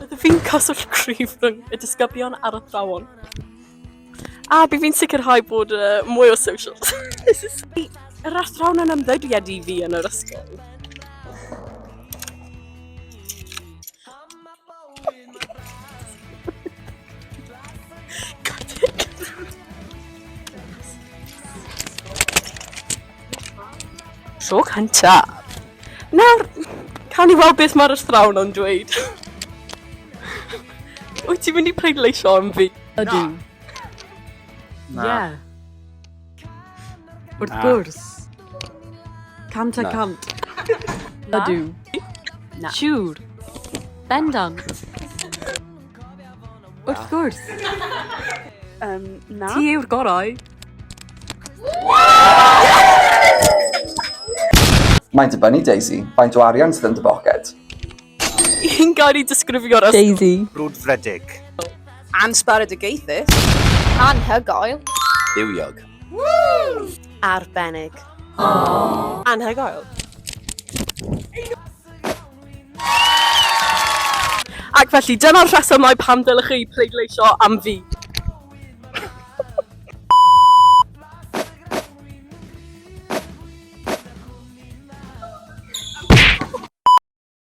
Byddaf fi'n cyswllt cryf rhwng y disgyblion a'r athrawon. A bydd fi'n sicrhau bod uh, mwy o social. Yr athrawon yn ymddiried i fi yn yr ysgol. Tro cyntaf. Nawr, cawn ni weld beth mae'r athrawon o'n dweud. Wyt ti'n mynd i pleidleisio am fi? Ydw. Na. Yeah. Wrth Na. gwrs. Cant a Na. cant. Na. Ydw. Na. Siŵr. Bendant. Wrth gwrs. Um, na. Ti yw'r gorau. Mae'n dibynnu, Daisy. Faint o arian sydd yn dy boced? Yn gael ei disgrifio'r ysgol. Daisy. Brwdfrydig. Ansbaredigaethus. Anhygoel. Bywiog. Arbennig. Anhygoel. Ac felly, dyna'r rhesymau pam dylech chi pleidleisio am fi.